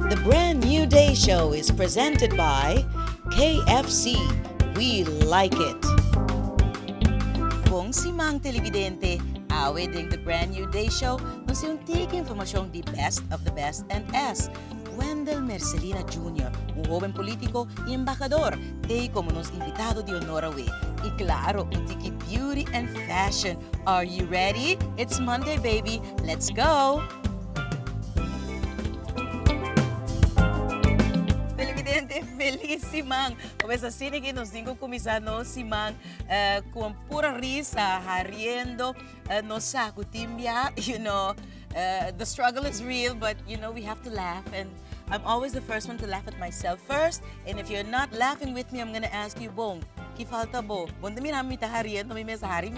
The Brand New Day Show is presented by KFC, We Like It! Bon siman telibidente, awe den The Brand New Day Show nos tin un tiki informashon di best of the best en es Wendell Mercelina Junior, un hoben politico y embahador t'ey como nos invitado di honor awe. Y claro un tiki beauty and fashion, are you ready? It's Monday baby, let's go! Felipidente felis siman bo mes asina ki nos tin ku kuminsá nos siman kon pura risa riendo nos sa ku tin bia you know de struggle is real but you know we have to laugh and I'm always the first one to laugh at myself first and if you're not laughing with me I'm gonna ask you bon ki falta bo bon ta mira mi ta riendo mi mesa hari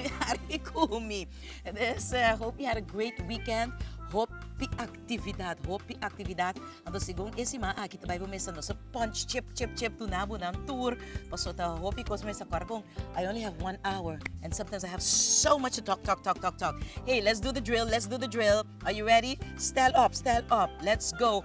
ku mi. Bes hopi had a great weekend hopi actividad hopi actividad anto si gon e siman aki ta bai bo mester nos a punch chip chip chip duna bo nan tur paso ta hopi cos mi mester a cuadra con I only have one hour and sometimes I have so much to talk talk talk talk talk hey let's do the drill let's do the drill are you ready stand up stand up let's go.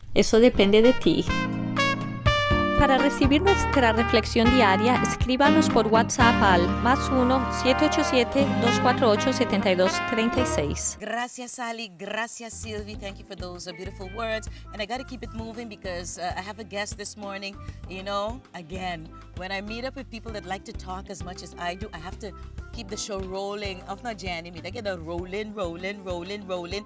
Eso depende de ti. Para recibi nuestra reflexion diaria escriba nos por WhatsApp al mas uno siete ocho siete dos cuatro ocho setenta y dos treinta y seis. Gracias Sally, gracias Sylvie, thank you for those beautiful words and I gotta keep it moving because I have a guest this morning and you know again when I meet up with people that like to talk as much as I do I have to keep the show rolling of not Jenny mi ta keda rolling rolling rolling rolling.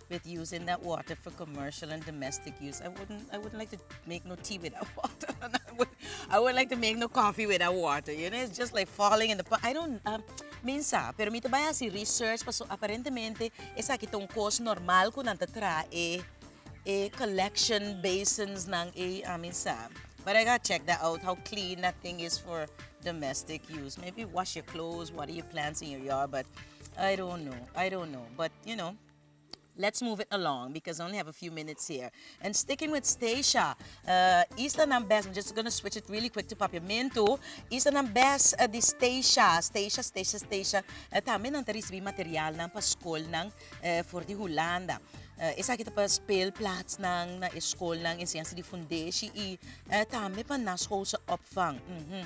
with using that water for commercial and domestic use. I wouldn't I wouldn't like to make no tea with that water. And I would I wouldn't like to make no coffee with that water. You know, it's just like falling in the pot. I don't um, min sa, pero mi te bai hasi research paso aparentemente esa ki ta un kos normal ku nan ta tra e e collection basins nan e a min sa. But I gotta check that out how clean that thing is for domestic use. Maybe wash your clothes, water your plants in your yard, but I don't know. I don't know. But you know, Let's move it along because I only have a few minutes here. And sticking with Stacia, uh, Easter nan best, I'm just gonna switch it really quick to Papiamento. Easter nan best uh, di Stacia, Stacia, Stacia, Stacia. Uh, también nan te recibí material nan pa school nan uh, for di Holanda. Uh, esa kita pa speelplaats nan, na e school nan, enseñanza di fundeshi i uh, también pa naschoolse opvang. Mm -hmm.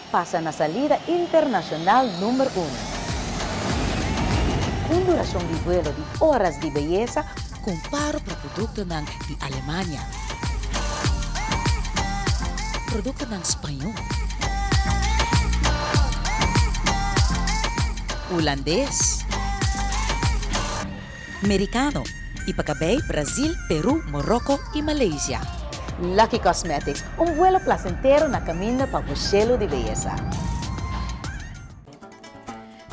Pasa na salida internacional number uno. Un duracion di vuelo di oras di beyesa. Comparo pra productonan di Alemania. Productonan Spañol. Hulandes. Merikano, i pa kabei Brazil, Peru, Moroko i Malaysia. Lucky Cosmetics, un vuelo plasentero na kaminda pa bo shelu di beyesa.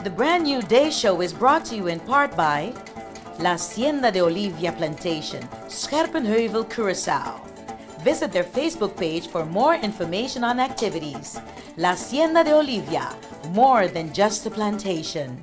The Brand New Day Show is brought to you in part by La Hacienda de Olivia Plantation, Scherpenheuvel, Curaçao. Visit their Facebook page for more information on activities. La Hacienda de Olivia, more than just a plantation.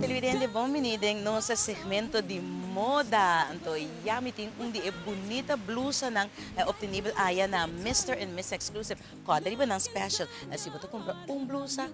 Televidente bon bini den nos segmento di moda. Anto ya mi tin un di e bunita blusanan obtenibel aya na Mister and Miss Exclusive. Kòrda riba nan special. Si bo ta kumpra un blusa.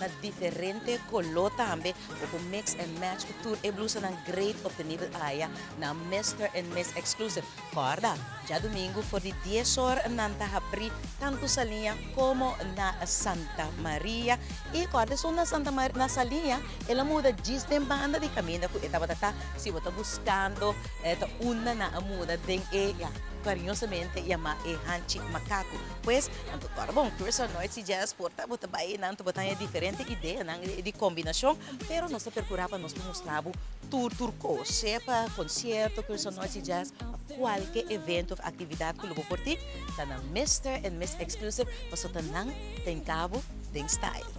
na diferente coló tambe bo por mix and match cu tur e blusanan great obtenible aya na Mister and Miss Exclusive. Corda! Djadomingo for di dies hor nan ta habri tanto Saliña como na Santa Maria y corda esun na Santa Maria na Saliña el a muda djis den banda di caminda cu e tabata ta si bo ta buscando ta unda nan a muda den e ya cariñosamente yama e hanchi macaco. Pues nan ta torna bon curso noit si dje es por ta bo ta bai nan ta bo ta haña diferente ideanan di combinacion pero nos ta percura pa nos por mustra bo tur tur cos sea pa concierto curso noit si dje pa cualke evento of actividad cu lo bo por tin ta nan Mister and Miss Exclusive pasobra nan ta hinca bo den style.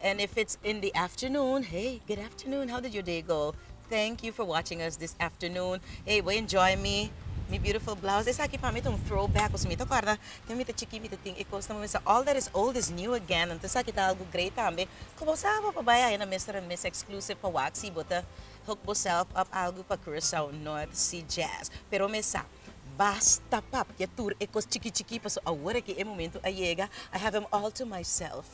And if it's in the afternoon, hey, good afternoon, how did your day go? Thank you for watching us this afternoon. Hey, bo enjoy mi, mi beautiful blouse. Esaki pa mi ta un throwback, koso mi ta kòrda wen mi ta chikí mi ta tin e kosnan, bo mi sa all that is old is new again. Anto esaki ta algu great tambe. Ku bo sa bo por bai ayina Mister and Miss Exclusive pa wak si bo ta hook boself up algu pa Curaçao North Sea Jazz. Pero mi sa, basta papia tur e kos chikí chikí paso awor aki e momentu a yega, I have him all to myself.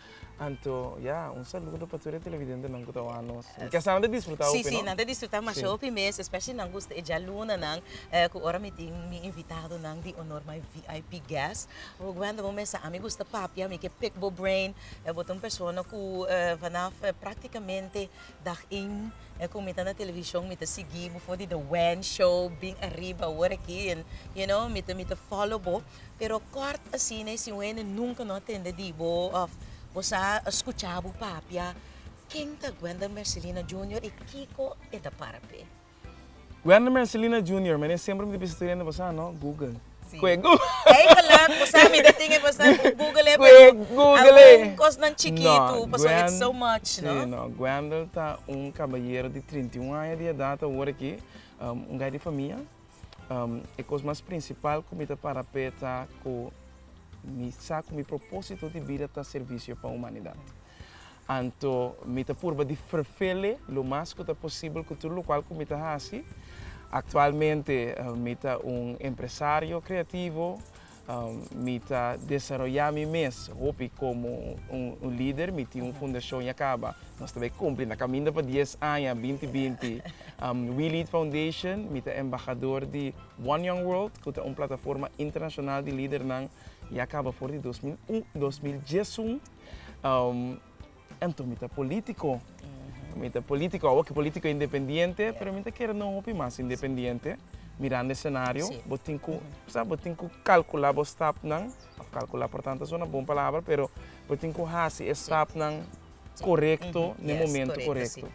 Anto ya un saludo pa tur e televidentenan ku ta wak nos. Mi ke sa nan ta disfruta hopi, no? Sí, sí, nan ta disfruta masha hopi mes, especially nan gusta e djalunanan, ku ora mi tin mi invitadonan di honor, my vip guest. Bo wenda bo mester, ami gusta papia, mi ke pick bo brain, bo ta un persona ku vanaf praktikamente dag ein ku mi ta na televishon mi ta sigui bo for di The Wen Show, bin ariba awor aki, you know, mi ta follow bo. pero kort asina e siñu hende nunka no a tende di bo òf bo sa a skucha bo papia. Ken ta Gwendel Mercelina Junior i kiko e ta para p'e? Gwendel Mercelina Junior, mi nen semper mi ta bisa tur hende pasá no, Google. Si. Ku e Google. Ei balak, bo sa mi ta tin e pasan ku Google Ku e Google. algun kosnan chikitu, No, pasobra Gwen- it's so much, no? Sí, no. Gwendel ta un kabayero di trinta i un aña di edat awor aki. Um un gai di famia. E kos mas prinsipal ku mi ta para p'e ta ku mi sa ku mi propósito di bida ta servisio pa humanidat. Anto mi ta purba di ferfele lo mas ku ta posibel ku tur lokual ku mi ta hasi. Aktualmente mi ta un empresario kreativo. Mi ta desaroyá mi mes hopi komo un lider. Mi tin un fundashon ya kaba, nos ta bai kumpli, ta kaminda pa dies aña binti binti. We Lead Foundation, mi ta embahador di One Young World, ku ta un plataforma internashonal di lidernan, ya kaba for di dos mil un dos mil diesun. Anto mi ta politico. Mi ta politico, awo ki politico independiente, pero mi ta kere no hopi mas independiente. Mirando e scenario, bo tin cu, sa, bo tin cu calcula bo stapnan, of calcula por tanto a sona bon palabra, pero bo tin cu haci e stapnan corecto n'e momento corecto.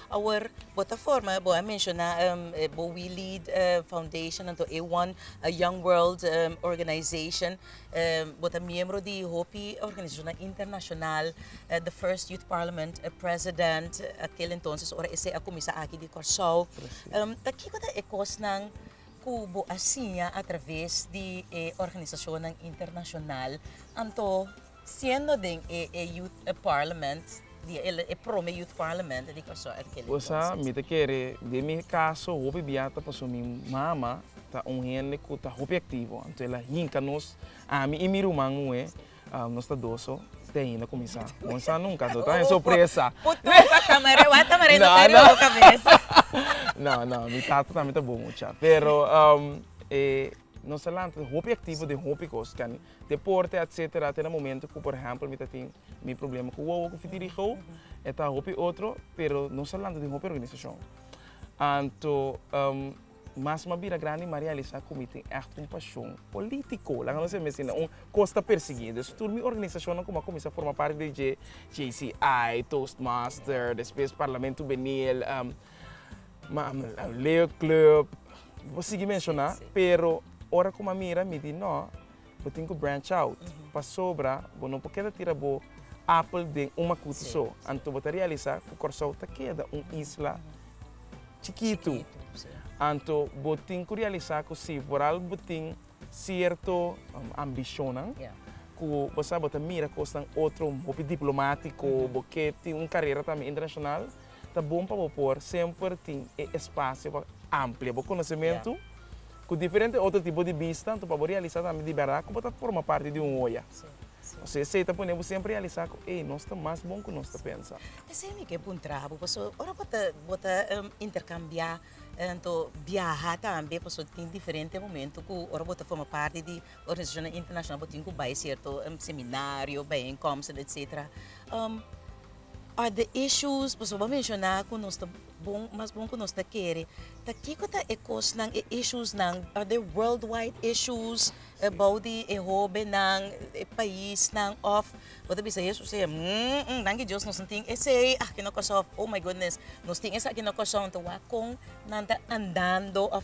Awor, bo ta forma, bo a menciona bo We Lead Foundation, anto e one Young World Organization. Bo ta miembro di hopi organisashonnan internashonal, the first youth parliament president at kil entonces ora esei a kuminsá aki di Kòrsou. Ta kiko ta e kosnan ku bo a siña atraves di e organisashonnan internashonal anto siendo den e youth parliament? di el e prome youth parliament di Kòrsou at kil entonces. Gosa, mi ta kere, den mi kaso hopi bia ta paso mi mama ta un hende ku ta hopi aktivo, anto el a hinka nos, ami i mi ruman muhé, nos ta doso, te ainda kuminsá. Bo no sa nunka, anto ta den sorpresa. Futuro pa Tamaré, wak Tamaré no ta riba bo kabes. No, no, mi tata tambe ta bon mucha, pero e. Nos a lanta den hopi aktivo den hopi kos kani deporte etc. Te na momento ku por ehèmpel mi ta tin mi problema ku wowo ku fitirigo e ta hopi otro pero nos a lanta den hopi organisashon anto mas mi a bira grandi mi a realisá ku mi tin ègt un pashon polítiko laga nos a mester na un kos ta persiguí dus tur mi organisashonnan ku mi a kuminsá forma parti di dje JCI, Toastmaster despues Parlamento Jubenil. Leo club, bo sigui menshoná, pero ora ku bo a mira mi di no, bo tin ku branch out, pasobra bo no por keda tira bo apel den un makutu so. Anto bo ta realisá ku Kòrsou ta keda un isla chikitu. Anto bo tin ku realisá ku si por al bo tin sierto ambishonnan ku bo sa bo ta mira kosnan otro hopi diplomátiko, bo ke tin un karera tambe internashonal. Ta bon pa bo por semper tin e espasio pa amplia bo konosementu ku diferente otro tipo di bista, anto pa bo realisa tambe di berdad ku bo ta forma parti di un hoya. Pasobra esei ta pone bo semper realisa ku ey, nos ta mas bon ku nos ta pensa. Esei mi ke puntra bo, pasobra ora bo ta bo ta interkambia anto biaha tambe, pasobra tin diferente momentu ku ora bo ta forma parti di organisashonnan internashonal bo tin ku bai sierto seminario, baienkomsten, etsetera. Other issues, pasobra bo a menciona cu nos ta bon, mas bon cu nos ta kere, ta kico ta e cosnan, e issuesnan, are they worldwide issues about di e hobennan, e paisnan of bo ta bisa Jesús e hmmm danki Dios nos no tin esey aki na corsou of oh my goodness nos tin esaki na corsou anto wak con nan ta andando of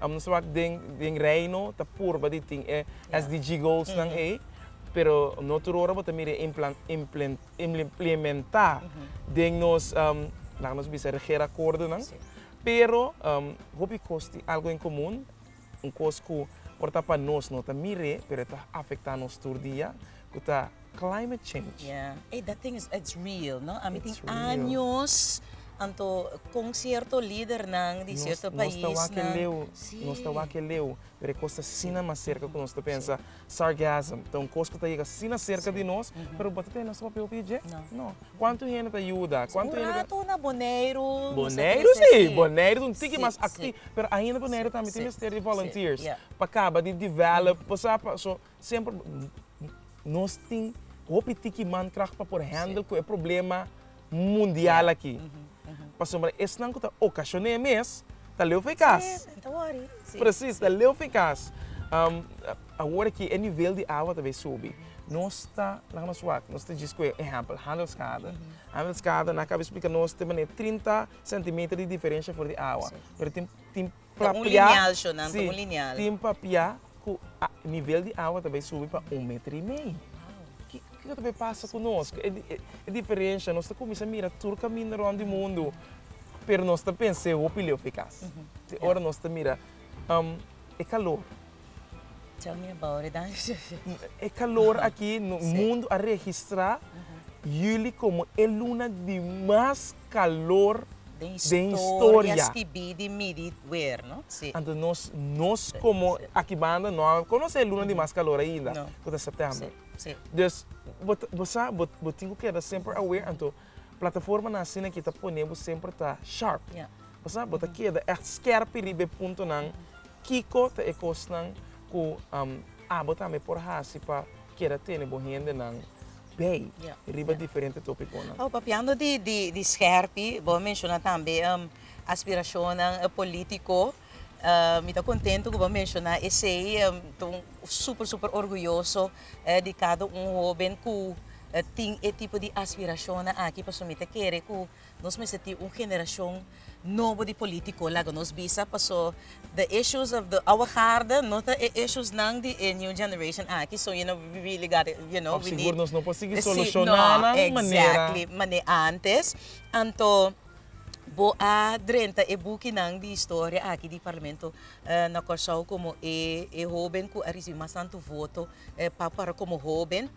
Amo ta wak den Reino ta purba di tin e SDG goalsnan ei, pero no tur ora bo ta mira implementá den nos, laga nos bisa regerakordonan. Pero hopi kos tin algo en komun, un kos ku por ta pa nos no ta mir'é pero e ta afektá nos tur dia, ku ta climate change. Ya, ey that thing is it's real no, a mi tin años anto concierto lidernan di cierto paisnan. Nos ta wak e leu, nos ta wak e leu, pero e cos ta asina mas cerca cu nos ta pensa, sargasm, ta un cos cu ta yega asina cerca di nos, pero bo ta tene nos papel pi dje? No. Cuanto hende ta yuda? Cuanto hende ta. Un rato na Boneiru nos a trece. Boneiru si, Boneiru ta un tiki mas activo, pero ainda Boneiru tambe tin mester di volunteers pa caba di develop, bo sa, pa, so. Semper nos tin hopi tiki mankracht pa por handel ku e problema mundial aki. Pasobra esnan ku ta okashoné mes ta leu fen kas. Presis, ta leu fen kas. Awor aki e nivel di awa ta bai subi. Nos ta, laga nos wak, nos ta djis ku e ehèmpel Handelskade. Handelskade nan a kaba esplika nos tin manera trinta sentimeter di diferensha for di awa. Pero tin, tin. Ta un lineal sho nan, ta un lineal. Tin papia ku nivel di awa ta bai subi pa un meter i mei. Kiko ta bai pasa ku nos? Ku e diferensha? Nos ta kuminsá mira tur kaminda rònt di mundu, pero nos ta pensa e hopi leu efikas. Te ora nos ta mira e kalor. Tell me about it dan. E kalor aki, mundu a registrá juli komo e luna di mas calor den historia. Stibí di Midit Weer, no? Sí. Anto nos, nos como aki banda no a conoce luna di mas calor ainda, No. cu ta september. Sí, sí. Dus, bo, ta- bo sa, bo, bo tin cu keda semper aware, anto plataformanan asina aki ta pone bo semper ta sharp. Ja. Bo sa, bo ta keda echt skerpi riba e puntonan, kico ta e cosnan cu am, abo tambe por haci pa keda tene bo hendenan bay riba diferente topiconan. Awo papiando di di di scherpie bo a menciona tambe aspiracionnan politico mi ta contento cu bo a menciona esey ta super super orguyoso di cada un hoben cu tin e tipo di aspiracionnan aki pasobra mi ta kere cu Nos mester tin un generashon nobo di polítiko, laga nos bisa, paso the issues of the our harde no ta e ishesnan di e new generation aki, so you know we really gotta, you know, we need. P'or sigur nos no por sigui solushoná nan manera. Exactly, mane antes. Anto bo a drenta e bukinan di historia aki di Parlamento na Kòrsou komo e hoben ku a risibí mas tantu voto pa komo hoben.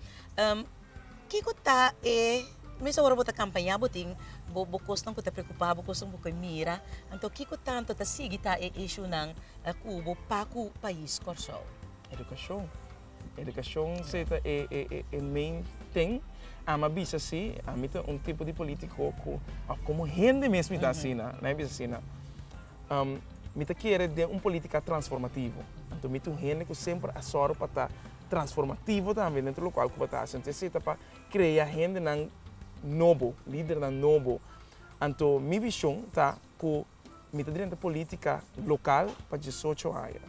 Kiko ta e mes ora bo ta kampañá bo tin bo bo kosnan ku ta preokupá bo kosnan ku bo ke mira anto kiko tantu ta sigui ta e ishunan ku bo pa ku pais Kòrsou? Edukashon, edukashon se ta e e e e main tin, a mi a bisa si ami ta un tipo di polítiko ku òf komo hende mes mi ta asina mi a bisa asina mi ta kere den un polítika transformativo anto mi ta un hende ku semper a sòru pa ta transformativo tambe dentro lokual ku bo ta hasi. Anto esei ta pa krea hendenan nobo, lidernan nobo. Anto mi vishon ta ku mi ta drenta politika lokal pa diesocho aña.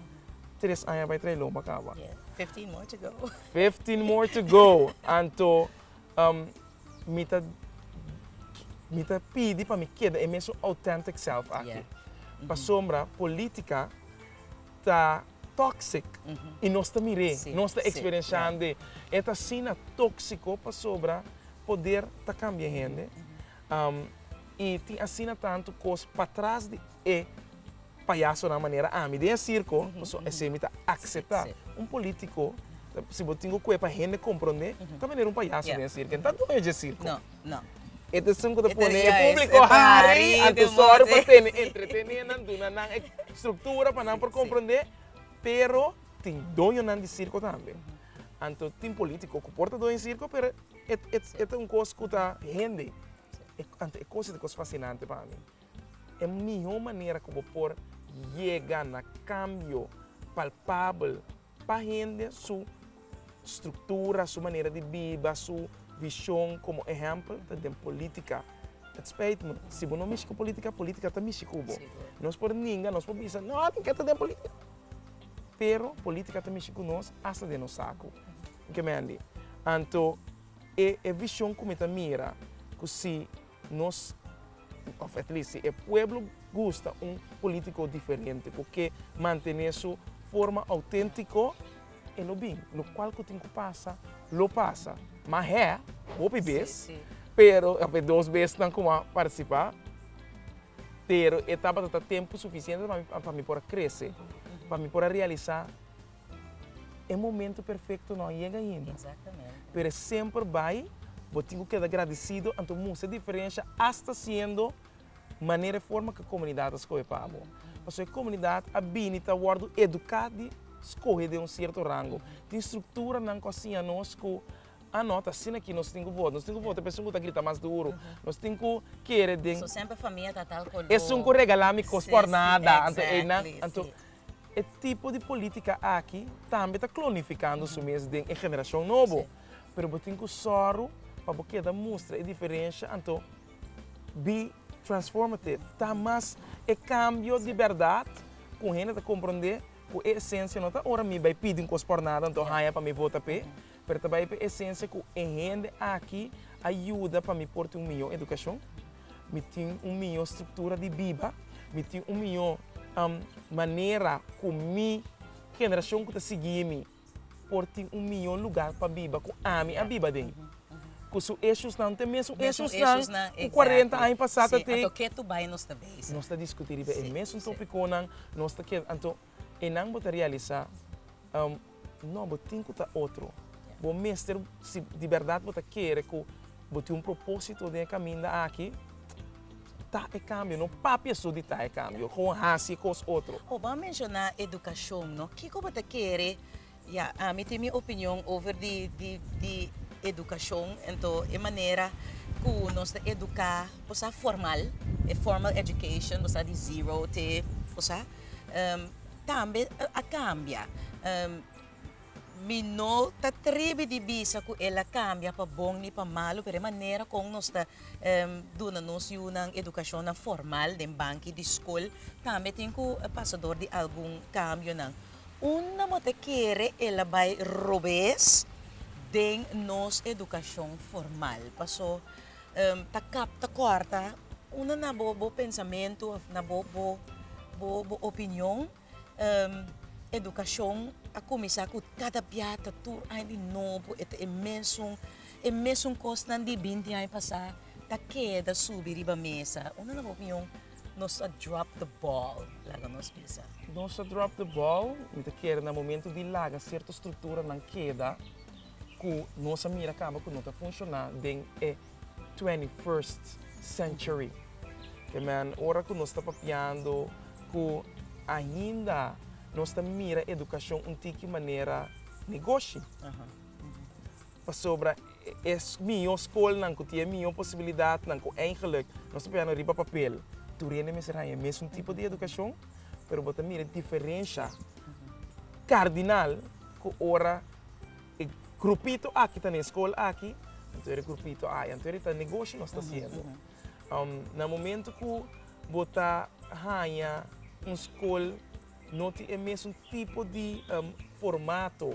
Tres aña bai tra'i lomba kaba. Yes, fifteen more to go. Fifteen more to go. Anto mi ta mi ta pidi pa mi keda e mesun authentic self aki. Pasobra politika. ta toxic y nos ta mir'e, nos ta experienciand'e. E ta asina toxico pasobra poder ta cambia hende y tin asina tanto cos patras di e payasonan manera ami den e circo, pasobra esey mi ta acepta. Un politico, si bo tin cu cue pa hende comprende, ta manera un payaso den e circo, e no ta dueño dje circo. No. E ta esun ku ta pone e públiko hari, anto sòru pa tene entretené nan, duna nan e struktura pa nan por komprondé. Pero tin doñonan di sirko tambe. Anto tin polítiko ku por ta doño di sirko, pero e ta un kos ku ta hende. Anto e kos ei ta kos fasinante pa mi. E mihó manera ku bo por yega na kambio palpabel. Pa hende su struktura, su manera di biba, su vishon, komo ehèmpel ta den polítika. It spijt me, si bo no mishi ku polítika, polítika ta mishi ku bo. Nos por ninga, nos por bisa, no, tin ke ta den polítika. Pero polítika ta mishi ku nos hasta den nos saku. Ke mende? Anto e vishon ku mi ta mira ku si. Nos, of at least si e pueblo gusta un politico diferente cu ke mantene su forma autentico, e lo bin. Locual cu tin cu pasa, lo pasa. Ma hé, hopi bes, pero, of e dos besnan cu a participa, pero e tabata ta tempo suficiente pa mi por a crece, pa mi por a realisa. E momento perfecto no a yega ainda. Exactamente. Pero e semper bay, bo tin cu keda agradecido, anto mustra e diferencia hasta siendo manera e forma cu e comunidad a scoge pa bo. Pasobra e comunidad a bini ta wordo educa di scoge den un cierto rango. Tin structuranan cu a siña nos cu ah no, ta asina aki nos tin cu vota. Nos tin cu vota e persoan cu ta grita mas duro. Nos tin cu kere den. So semper famia ta tal color. Esun cu regala mi cos por nada. Exactly, si. Anto einan, anto E tipo di polítika aki tambe ta klonifikando su mes den e generashon nobo. Pero bo tin ku sòru pa bo keda mustra e diferensha, anto bi transformative, ta mas e kambio di bèrdat ku hende ta komprondé ku e esensia no ta ora mi bai pidi un kos pòrnada anto haña pa mi vota p'e, Pero ta bai pa esencia cu e hende aki a yuda pa mi por tin un mijo educacion, mi tin un mijo structura di biba, mi tin un mijo manera cu mi generacion cu ta sigui mi por tin un mijo lugar pa biba cu ami a biba den. Cu su eshusnan ta mesun eshusnan cu cuarenta aña pasa ta tey. Nos ta discuti riba e mesun topiconan. Anto. E nan bo ta realisa, um, no, bo tin cu ta otro. Bo mester, si di berdad bo ta kere cu bo tin un propósito den e caminda aki, ta e cambio. No papia su di ta e cambio, gewoon haci e cos otro. Bo a menciona educacion, no? Kico bo ta kere Ya, ami tin mi opinion over di di edukashon, ento e manera ku nos ta eduká por sa formal, e formal education por sa di zero te por sa, tambe a kambia. Mi no ta tribi di bisa ku el a kambia pa bon ni pa malu, pero e manera kon nos ta duna nos yunan edukashonnan formal den banki di skol tambe tin ku pasador di algun kambionan. Unda bo ta kere el a bai robes den nos edukashon formal? Paso, ta kap ta kòrta unda na bo bo pensamentu òf na bo bo bo bo opinion edukashon a kuminsá ku kada bia ta tur aña di nobo e ta e mesun e mesun kosnan di binti aña pasá ta keda subi riba mesa? Unda na bo opinion Nos a drop the ball, laga nos bisa. Nos a drop the ball, mi ta kere na momento di laga sierto structuranan keda cu nos a mira caba cu no ta funciona den e twenty first century. Te men ora cu nos ta papiando cu ainda nos ta mira educacion un tiki manera negoshi. Pasobra e mihó skolnan ku tin e mihó posibilidatnan, ku eingelik nos ta piano riba papel, tur hende mester haña e mesun tipo di edukashon, pero bo ta mira e diferensha kardinal ku ora e grupito aki ta na e skol aki, anto e grupito aya. Anto e ta negoshi nos ta hasiendo. Na momentu ku bo ta haña un skol no tin e mesun tipo di formato.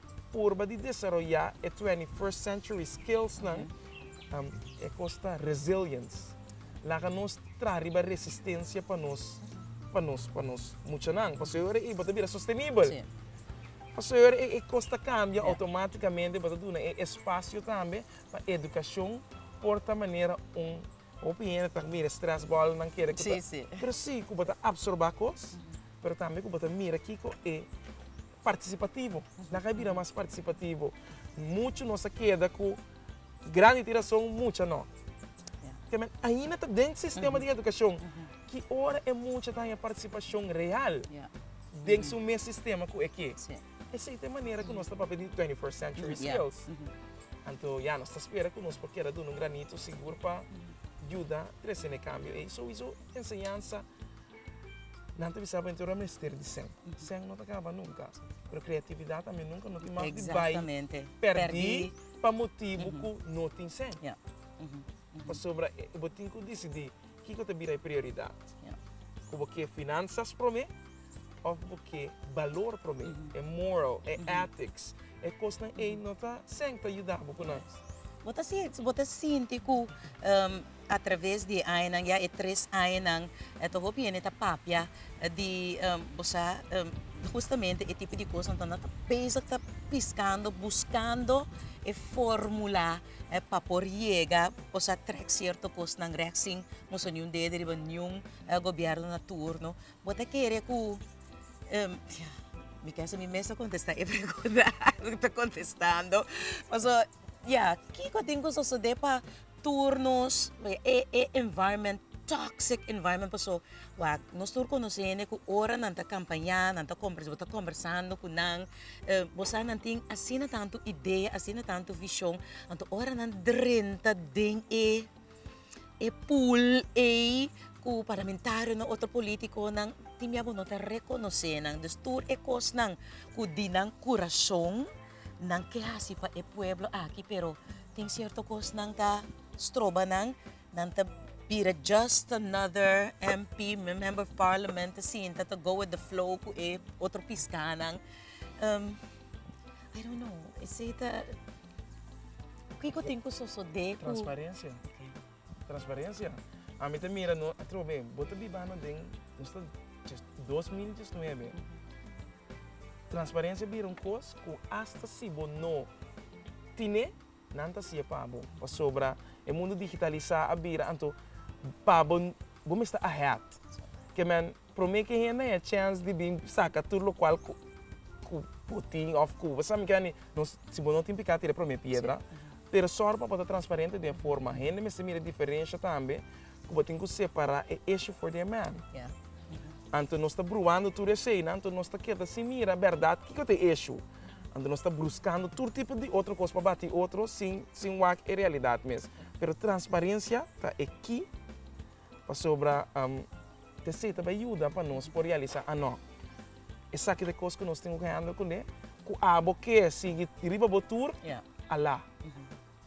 purba di desaroyá e twenty first century skillsnan, e kos ta resilience. Laga nos traha riba resistensia pa nos pa nos pa nos muchanan, pasobra e ora ei bo ta bira sostenibel. Pasobra e ora ei e kos ta kambia outomátikamente bo ta duna e espasio tambe pa edukashon por ta manera un hopi hende ta mira e stress bòlnan kere ku ta pero si ku bo ta apsorbá kos pero tambe ku bo ta mira kiko e. Partisipativo. Nan ka bira mas partisipativo. Muchu nos a keda ku grandi tin rason, mucha no. Te men ainda ta den sistema di edukashon. Ki ora e mucha ta haña partisipashon real den su mes sistema ku e ke? Esei ta e manera ku nos ta papia di twenty first century skills. Anto ya, nos ta spera ku nos por keda duna un granito sigur pa yuda trese na e kambio ei. Souiso enseñansa Nan ta bisa bo enton a mester di sèn. Sèn no ta kaba nunka. Pero kreatividat tambe nunka no tin mas di bai pèrdí pa motibu ku no tin sèn. Pasobra bo tin ku disidí kiko ta bira e prioridat. Ku bo ke finansas promé òf bo ke balor promé, e moral, e ethics. E kosnan ei no ta sèn ta yuda bo ku nan. Bo ta sinti ku. A traves di e añanan, ya e tres añanan, ta hopi hende ta papia di bo sa hustamente e tipo di cosnan ta nan ta bezig ta piscando, buscando e formula pa por yega bo sa trek cierto cosnan rek sin nos a niun dede riba niun gobierno na turno. Bo ta kere cu mi kes ami mes ta contesta e pregunta cu ta contestando pasobra Ya, kiko a tin ku sosodé pa tur nos? E e environment, toxic environment paso wa nos tur konosé hende ku ora nan ta kampañá, nan ta komber bo ta kombersando ku nan bo sa nan tin asina tantu idea, asina tantu vishon, anto ora nan drenta den e e pool ei ku parlamentarionan, otro politiconan tin mia bo no ta rekonosé nan. Dus tur e kosnan ku di nan kurashon Nan ke hasi pa e pueblo aki pero tin cierto cos nan ta stroba nan, nan ta bira just another MP, member of parliament ta sinta ta go with the flow cu e otro piscanan. Um, I don't know, esey ta... Kico tin cu sosode cu... Transparencia. Transparencia. Ami ta mira no atrobe bo ta bibano den nos ta dos mil diesnuebe transparencia bira un cos cu hasta si bo no tine nan ta haci'e pa bo pasobra e mundo digitaliza a bira anto pa bo bo mester ahead kiaman. Prome ke hende a haya chance di bin saca tur locual cu bo tin of cu bo sa mester hani, nos si bo no tin pica tira prome piedra. Pero sor pa bo ta transparente den forma hende mester mira e diferencia tambe cu bo tin cu separa e issue for their man. Anto nos ta bruando tur eseynan, anto nos ta keda sin mira berdad kico ta e issue. Anto nos ta bruscando tur tipo di otro cos pa bati otro sin wak e realidad mes. Pero transparencia ta e key. Pasobra te sí ta bai yuda pa nos por realisá anó esaki ta e kos ku nos tin ku handle ku ne. Ku abo ke sigui riba bo tur, alá.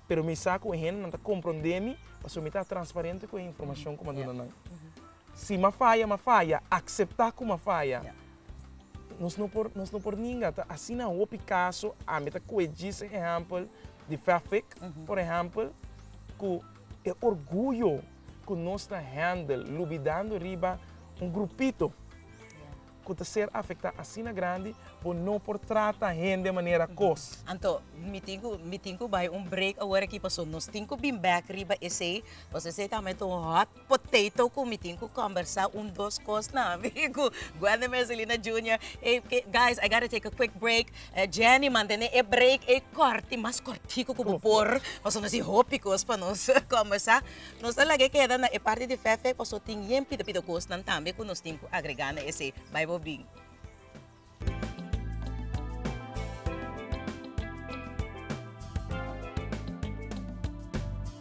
Pero mi sa ku e hendenan ta komprondé mi, pasobra mi ta transparente ku e informashon ku mi a duna nan. Si mi a faya, mi a faya, akseptá ku mi a faya. Nos no por, nos no por ninga. Ta asina hopi kaso. Ami ta kohe djis ehèmpel di Fafik, por ehèmpel, ku e orguyo. ku nos ta hèndel lubidando riba un grupito ku ta ser afektá asina grandi, bo no por trata hende manera kos. Anto, mi tin ku mi tin ku bai un break awor aki paso nos tin ku bin bèk riba esei, paso esei ta aumenta un hot potato ku mi tin ku kòmbersá un dos kosnan ku guendemeselina junior. Ey guys I gotta take a quick break. E Jenny mantené e break ei kòrt i mas kòrtiku ku bo por, paso nos tin hopi kos pa nos kòmbèrsá. Nos ta laga keda na e parti di Fèfè paso tin yen pita pita kosnan tambe ku nos tin ku agregá na esei. Bai bo bin.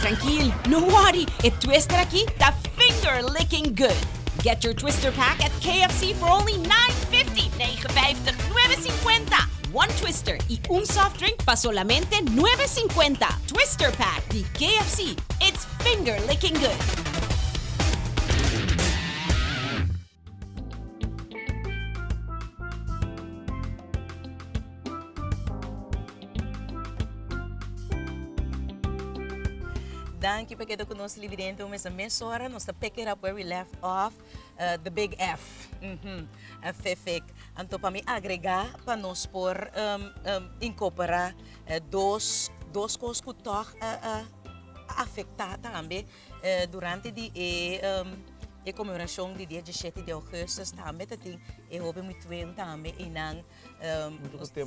Trankil, no worry, e twister aki ta finger-licking good! Get your twister pack at KFC for only nine fifty, nege vijftig, nueve cincuenta! One twister y un soft drink pa solamente nueve cincuenta! Twister pack di KFC, it's finger-licking good! Danki pa keda ku nos libidente un mes na mesora. Nos ta pick it up where we left off, eh, the big F, mhm, eh, fifik. Anto pa mi agrega pa nos por, um, um, inkopera dos, dos kos ku tog a, a, a afekta tambe. Durante di e conmemoracion di dia diesiete di augustus tambe ta tin e hoben muy tueun tambe eynan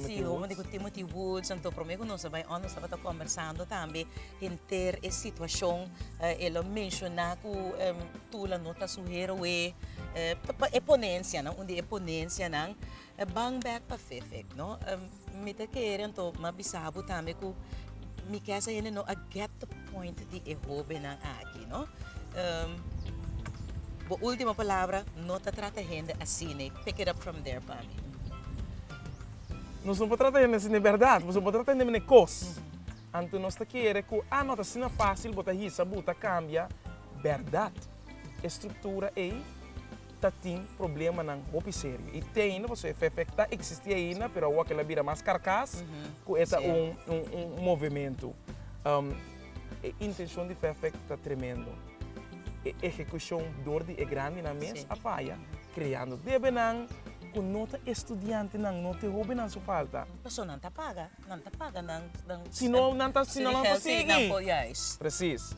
si homonden cu Timothy Woods anto prome cu nos a bay on nos tabata conversando tambe henter e situacion e lo menciona cu Tula no ta su heroe e ponencianan un di e ponencianan E bang bek pa fefek no mi ta kere anto ma bisa bo tambe ku mi ke esei hende no a get the point di e hobennan aki no bo ultimo palabra no ta trata hende asi nei pick it up from there pa mi. Nos no por trata hende asi nei berdad nos no por trata hende mene kos anto nos ta kere ku a no ta asina fasil bo ta hisa bu ta kambia berdad e struktura ei. ta tin problemanan hopi serio. I te ainda, pasobra e FEFEC ta existi ainda, pero awoa kel a bira mas karkas, ku e ta un movementu. E intenshon di FEFEC ta tremendo. E ehekushon dor di e grandinan mes a faya, kreando debenan ku no ta e studiantenan, no ta e hobennan su falta. Pasobra nan ta paga, nan ta paga nan. Si no nan ta sigui. Presis.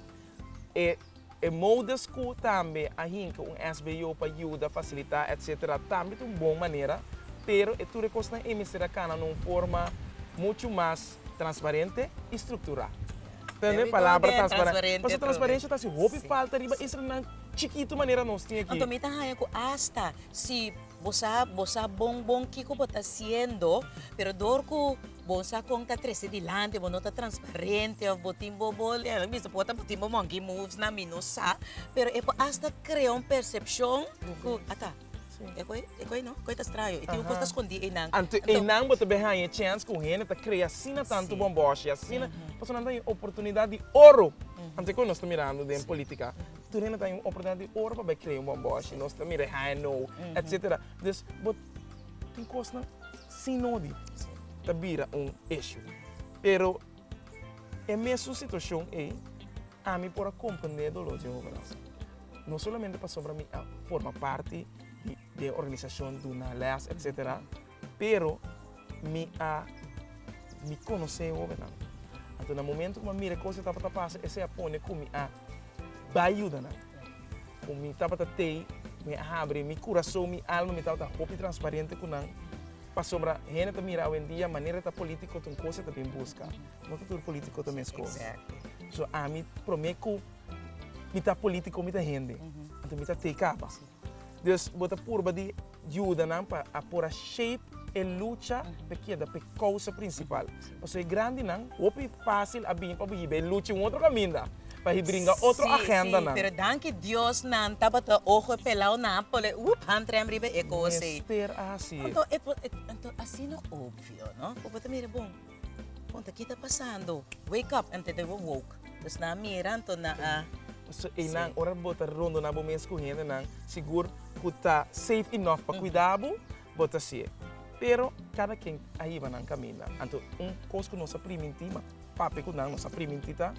E. E modus cu tambe a hinca un SBO pa yuda, facilita, etc. Tambe ta un bon manera, pero e tur e cosnan ey mester a cana na un forma mucho mas transparente y structura. There we go again, transparente. Tende palabra transparente. Pasobra transparencia ta haci hopi falta riba esnan chikitu manera nos tin aki. Anto mi ta haya cu hasta si bo sa, bo sa bon bon kico bo ta haciendo, pero door cu. Bo sa con ta trece dilanti, bo no ta transparente of bo tin bo bo lento, mi ta por bo tin bo monkey moves nan mi no sa, pero e por hasta crea un percepcion cu ata e koi e koi no koi ta straño e tin un cos ta scondi einan. Anto einan bo ta bay haya chance cu un hende ta crea asina tanto bon boshi asina pasobra nan ta haya oportunidad di oro, anto e koi nos ta mirando den politica tur hende ta haya un oportunidad di oro pa bay crea un bon boshi nos ta mira e haya nou etcetera, dus bo. tin kosnan sin nodi ta bira un eshú. Pero e mesun situashon ei, ami por a komprendé e doló di e hobennan. No solamente pasobra mi a forma parti di e organisashon, duna lès, etcétera, pero mi a mi konosé e hobennan. Anto na momentu ku mi a mira e kos ku tabata pasa, esei a pone ku mi a bai yuda nan. Ku mi tabata tei, mi a habri mi kurason, mi alma, mi tabata hopi transparente ku nan, pasobra hende ta mira awendia manera ta polítiko ta un kos, e ta bin buska. No ta tur polítiko ta mes kos. So, ami promé ku mi ta polítiko mi ta hende, anto mi ta tei kaba. Dus, bo ta purba di. yuda nan pa a por a shape e lucha pa e keda pa e kousa prinsipal. Pasobra e grandinan hopi fásil a bini pa bo hiba e lucha un otro kaminda, pa hibringa otro agendanan. Sí, sí, pero danki Dios nan tabata ojo e pelau nan a pone úp han trèm riba e kos ei. Mester a hasié. Anto e por, anto asina obvio, no? Ku bo ta mira bon. Punta, Ki ta pasando? Wake up! Anto dor bo woke. Pues nan a mira, anto nan a. So e nan, ora bo ta rondona bo mes ku hendenan, sigur ku ta safe enough pa kuidá bo, bo ta sié. Pero kada ken a hiba nan kaminda. Anto un kos ku nos a primintí, ma papia ku nan nos a primintí ta,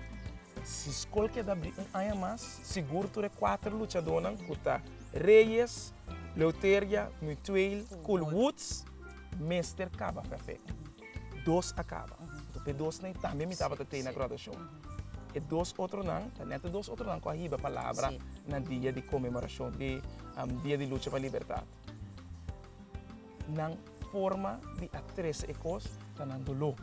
si skol ke da abrí un aña mas, sigur tur e kuater luchadónan ku ta Reyes, Leuteria, Mutueel, Kool Woods mester kaba perfekto. dos a kaba. Enton p'e dosnan i tambe mi tabata tei na graduashon. E dos otronan, ta nèt e dos otronan ku a hiba palabra na dia di konmemorashon di Dia di Lucha pa Libertat. Nan forma di a trese e kos ta nan doló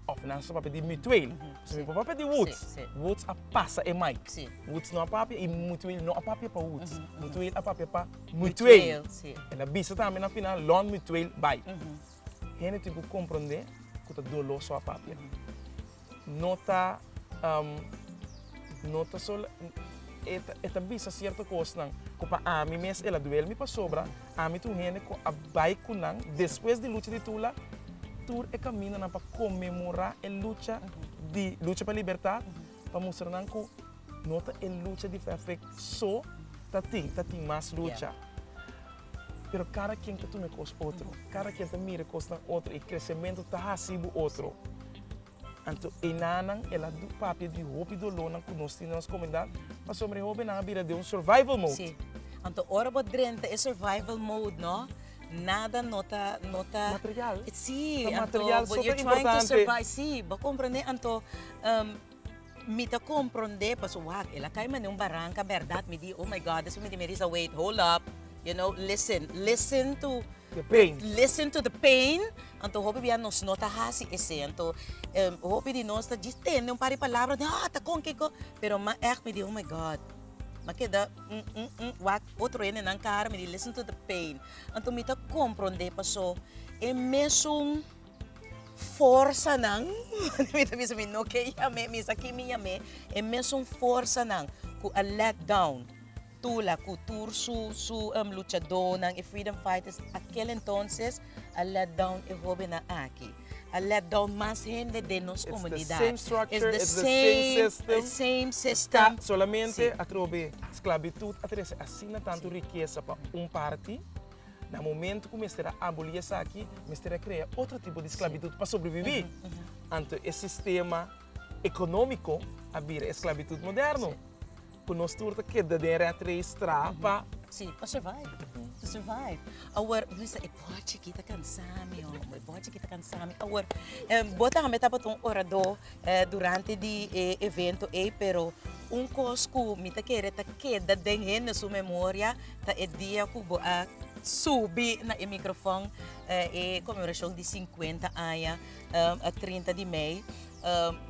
òf nan sa papia di Mutuel. Pasobra mi por papia di Woods, Woods a pasa e maik. Woods no a papia i Mutuel no a papia pa Woods. Mutuel a papia pa Mutuel. El a bisa tambe na final, Lon Mutuel bai. Hende tin ku komprondé ku ta doló so a papia. No ta no ta so e ta e ta bisa sierto kosnan ku pa ami mes el a duel mi pasobra ami ta un hende ku a bai ku nan despues di lucha di Tula tur e kamindanan pa konmemorá e lucha di lucha pa libertat pa mustra nan cu no ta e lucha di Fefric so ta tin, ta tin mas lucha. Pero cada quien ta tuma e cos otro, cada quien ta mira e cosnan otro, y crecemento ta haci bo otro. Anto enanan el a du papia di hopi dolornan cu nos tin den nos comunidad, pasobra e hobennan a bira den un survival mode. Sí. Anto ora bo drenta e survival mode no, nada no ta, no ta. Material. Sí, anto. Material so ta importante. Sí, bo comprende? Anto. Mi ta komprondé paso wak, el a kai mane un baranka bèrdat. Mi di, oh my God, despues mi di Marisa, wait, hold up, you know, listen, listen to, The pain. listen to the pain. Anto hopi bia nos no ta hasi esei. Anto hopi di nos ta djis tende un par di palabra den hòt, a kon ki kon. Pero m'a ègt mi di oh my God, m'a keda un un un wak otro hende nan kara, mi di listen to the pain. Anto mi ta komprondé paso e mesun. forsanan, manera mi ta bisa mi no ke yam'é, mi esaki mi yam'é, e mesun forsanan ku a let down Tula ku tur su su luchadónan, e freedom fighters, akel entonses a let down e hóbennan aki, a let down mas hende den nos komunidat. It's the same structure, it's the same system. It's the same system. Ta solamente atrobe sklabitut a trese asina tantu rikesa pa un parti. Na momento cu mester a aboli esaki, mester a crea otro tipo di sclavitud pa sobrevivi. Anto e sistema economico a bira e sclavitud moderno, cu nos tur ta keda den rat race tra pa. Si, pa survive, pa survive. Awor, Luisa, e bochi aki ta cansa mi, hombre, e bochi aki ta cansa mi. Awor, bo tambe tabata un orador. durante di e evento ei pero un kos ku mi ta kere ta keda den hende su memoria ta e dia ku bo a subi na e mikrofon e komemorashon di sinkuenta aña trinta di mei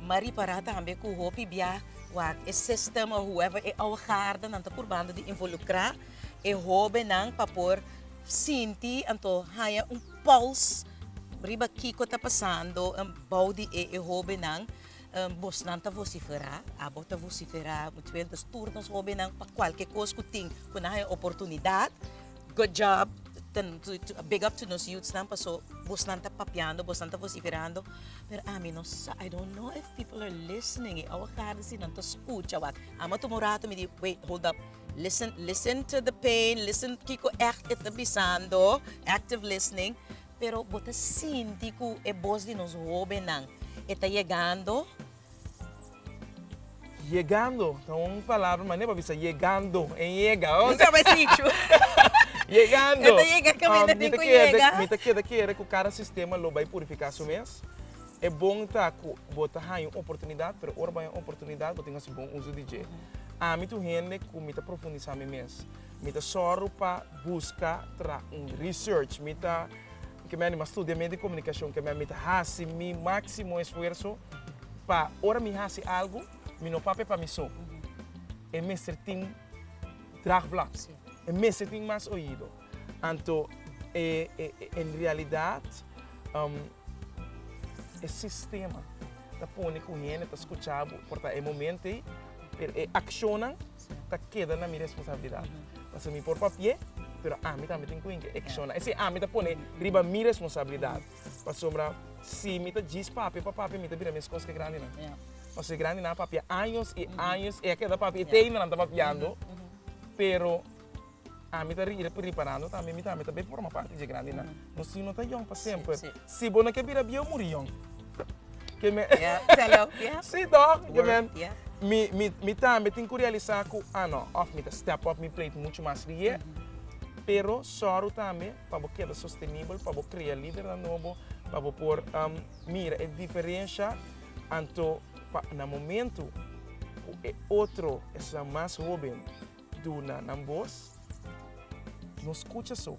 ma ripará tambe ku hopi bia wak e sistem o hueva e awagardanan ta purbando di involukrá e hobennan pa por sinti anto haña un pòls riba kiko ta pasando bou di e hóbennan. Bosnan ta vosiferá, abo ta vosiferá, mucha bes nos tur nos hóbennan pa kualke kos ku tin ku nan haña oportunidat. Good job, big up to nos youthsnan paso bosnan ta papiando, bosnan ta vosiferando. Pero ami no sa, I don't know if people are listening, e awakardesin nan ta skucha wak. Amo a tuma un rato mi di, wait, hold up. Listen, listen to the pain, listen kiko echt e ta bisando, active listening, pero bo ta sinti ku e bos di nos hóbennan e ta yegando? Yegando ta un palabra, manera pa bisa yegando, e yega. Bo sa bai sichu. Yegando. E ta yega kaminda den ku yega. Mi ta keda kere ku kada sistema lo bai purifiká su mes. E bon ta ku bo ta haña un oportunidat, pero ora bo haña un oportunidat bo tin hasi bon uso di dje. Ami ta un hende ku mi ta profundisá mi mes. Mi ta sòru pa buska tra un research. Mi ta, ke mi a anima studia medio di komunikashon, ke mi a, mi ta hasi mi máksimo esfuerso pa ora mi hasi algu mi no papia pa mi so. E mester tin draagvlak. E mester tin mas oido. Anto e en realidad e sistema ta pone cu hende ta scucha bo por ta e momento ey, pero e accionnan ta keda na mi responsabilidad. Pasobra mi por papia, pero ami tambe tin cu yinki acciona. Esey ami ta pone riba mi responsabilidad. Pasobra si mi ta djis papia pa papia mi ta bira mes cos cu e grandinan. Pasobra e grandinan a papia años y años, ey a keda papia y te ayina nan ta papiando, pero. Ami ta riba riparando tambe mi tambe ta bai forma parti dje grandi nan. No si no ta yong pa semper. Si bo no ke bira bieu muri yong. Ke men. Ya, telo, ya. Si toch? Ke men. Word, ya. Mi mi mi tambe tin ku realisa ku a no of mi ta step up mi plate muchu mas riye. Pero sòru tambe pa bo keda sostenibel, pa bo krea lidernan nobo, pa bo por mira e diferensha anto pa na momentu ku e otro esnan mas hoben Duna nan bos. No skucha so.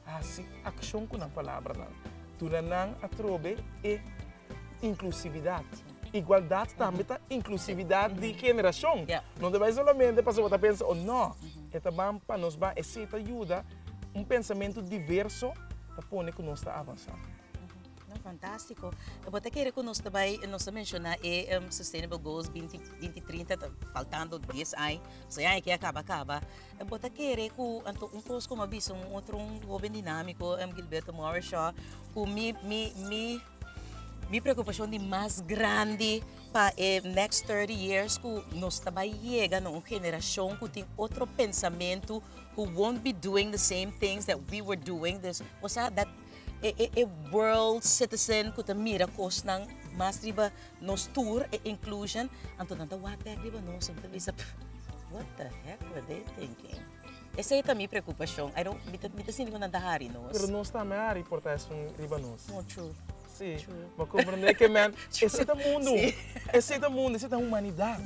Hasi akshon ku nan palabranan. Duna nan atrobe e inklusividat. Igualdat tambe ta inklusividat di generashon. No ta bai solamente pasobra ta pensa un nò. E ta ban pa nos ban. Esei ta yuda un pensamentu diverso ta pone ku nos ta avansá. No, fantástiko. E bo ta kere ku nos ta bai, nos ta menshoná e Sustainable Goals binti binti trinta, ta faltando dies ai, pasobra e aña aki a kaba kaba. E bo ta kere ku, anto un kos ku mi a bisa un otro un hoben dinámiko, Gilberto Moreshaw, ku mi mi mi mi preokupashon di mas grandi pa e next thirty years ku nos ta bai yega na un generashon ku tin otro pensamentu, who won't be doing the same things that we were doing, dus, o sea, dat e e e world citizen ku ta mira kosnan mas riba nos tur e inclusion anto nan ta wak bek riba nos nan ta bisa what the heck were they thinking esei ta mi preokupashon I don't mi ta mi ta sinti ku nan ta hari nos. Pero nos tambe hari por ta esun riba nos. No true. Si True. bo komprende ke men ese ta mundu Si. ese ta mundu ese ta humanidat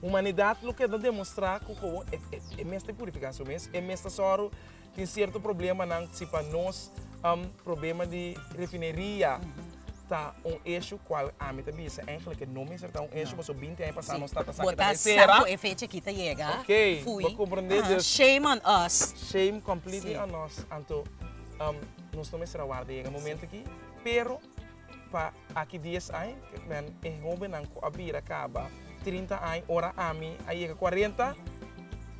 humanidat lo keda demostra ku kobon e e e mester purifiká su mes e mes ta sòru Tin sierto problemanan si pa nos. Problema di refineria ta un issue cual ami ta bisa eigenlijk ke no mester ta un issue paso binti aña pasá nos tata sa ke ta bay sera. Ok, bo comprende dus shame on us. Shame completely on us. Anto nos no mester a warda yega e momento aki pero pa. Aki dies ai men e hobennan ku a bira kaba trinta ai, ora ami a yega kuarenta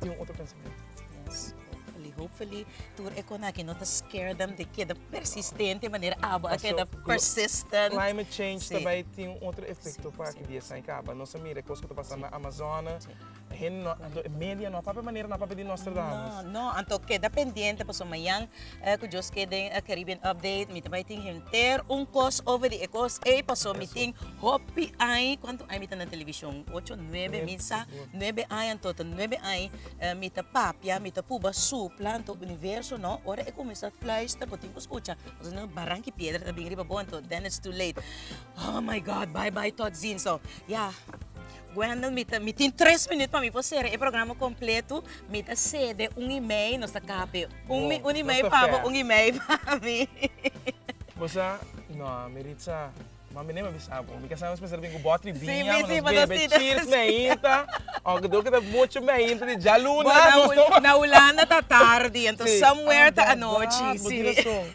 tin un otro pensamentu. Yes, hopefully, hopefully tur e konakien no ta scare dem di keda persistente manera abo a keda persistent. Climate change ta bai tin un otro efekto pa aki dies ai kaba. Nos a mira e kos ku ta pasa na Amazone. Hen no, anto e media no a papia manera no a papia di Nostradamus. No, no, anto keda pendiente paso mañan eh, cu Dios ke den eh, Caribbean Update, mi ta bai tin henter un cos over di e cos ey, paso mi tin hopi ai, cuanto ai mi ta na television? Ocho, nuebe, mi sa nuebe ai, anto ta nuebe ai eh, mi ta papia, mi ta puba supla, anto universo no, ora e cuminsa fluister bo tin cu scucha, paso si no e baranki piedra ta bin riba bo, anto then it's too late. Oh my God, bye bye, tot ziens. So, ya. Wendel mi ta mi tin tres minut pa mi por sera e programa kompletu mi ta sede un i mei nos ta kape un mi un i mei pa bo un i mei pa mi bo sa no meritza ma mi nen a bisa bo mi kasa nos pensá den ku botri biña pa nos bebe chir's meinta o ke dor ke ta muchu meinta di djaluna nos no na hulanda ta tardi enton somewhere ta anochi si bo tin razon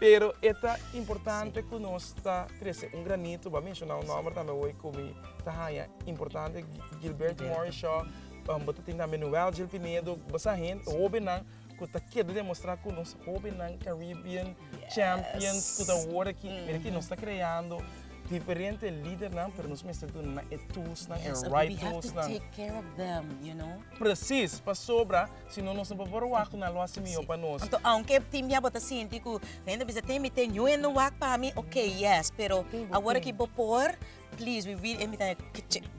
pero e ta importante ku nos ta trese un granito bo a menshona un nòmber tambe hoy ku mi. ta haya importante Gilberto Morishaw um, bota tin también Noel Gil Pinedo, basa gente, jovennan, que ta queda demostrar que nos jovennan Caribbean yes. champions, que ta ahora que, mm. mira que nos está creando diferente líder nan, pero nos mester doen na e tools nan, yes, e right tools nan. take care of them, you know? Precies, pa sobra, si no nos no por wak na lo así mio pa nos. Então, aunque tim ya bota sinti ku, nende bisa tem mi tem yo en wak pa mi, okay, yes, pero agora ki bo por Please we really emitá e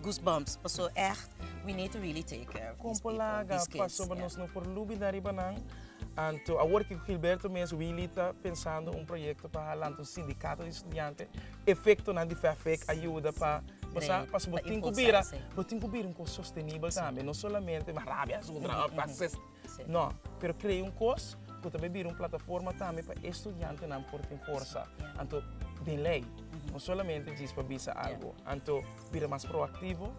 goosebumps paso echt we need to really take care of these people, these kids. Kon por laga pasobra nos no por lubida riba nan anto awor ki Gilberto mes Willy ta pensando un proyekto pa hala anto sindikato di studiante efektonan di FEFEC a yuda pa Pasá paso bo tin ku bira bo tin ku bira un kos sostenibel tambe no solamente mas rabia asuntra. No, pero crea un cos cu ta bay bira un plataforma tambe pa e studiantenan por tin forsa. Anto den ley, no solamente djis pa bisa algo. Anto bira mas proactivo.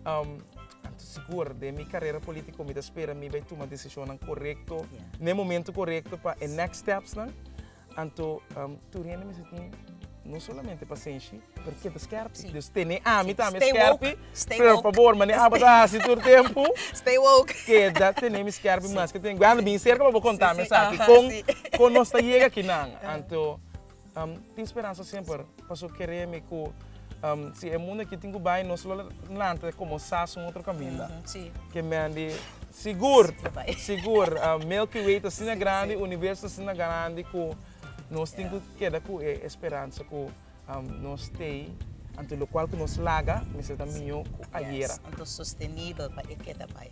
Um, anto sigur, den mi carera politico mi ta spera mi bay tuma decisionnan corecto, n'e momento corecto pa e next stepsnan. Anto, tur hende mester tin no solamente pasenshi, pero keda skerpi. Dus tene ami tambe skerpi. Por fabor, manera abo ta hasi tur tempu, keda tene mi skerpi mas. Ku tin anda bin serka pa bo konta mi esaki kon nos ta yega kinan. Anto tin speransa semper. Paso kere mi ku si e mundu aki tin ku bai nos lo lanta komo sas un otro kaminda. Ke men di sigur, sigur Milky Way ta asina grandi, universo ta asina grandi ku nos tin ku keda ku e speransa ku nos tei. Anto lokual ku nos laga mester ta mihó ku ayera. Anto sostenibel pa e keda bai.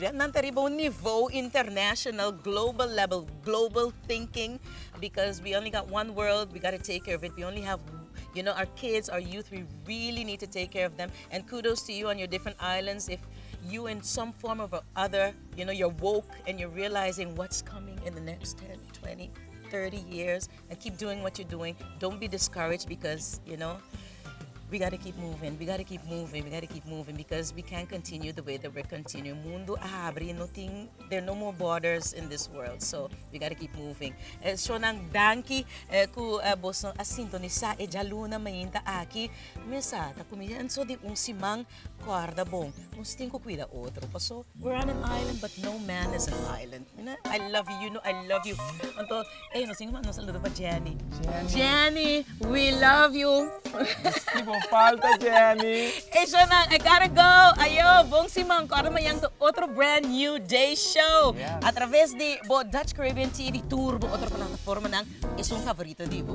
Nan ta riba un nivou international, global level, global thinking because we only got one world we gotta take care of it, we only have you know our kids, our youth we really need to take care of them and kudos to you on your different islands if you in some form of a other you know you're woke and you're realizing what's coming in the next ten, twenty, thirty years. And keep doing what you're doing, don't be discouraged because you know we gotta keep moving, we gotta keep moving, we gotta keep moving because we can't continue the way that we're continuing. Mundo a habri, no tin, there are no more borders in this world, so we gotta keep moving. Eh, Shonan, danki eh, ku eh, boson a sintonisa e djaluna mainta aki. Mesa, ta kumienso di un siman Guarda bo, nos tin cu cuida otro paso we're on an island but no man is an island mina I love you you know I love you anto ey nos tin cu manda un saludo pa Jenny Jenny we love you Misti bo falta Jenny. Ey shownan I gotta go ayo bon siman corda mañan cu otro brand new day show a traves di bo Dutch Caribbean TV tur bo otro plataformanan esun favorito di bo.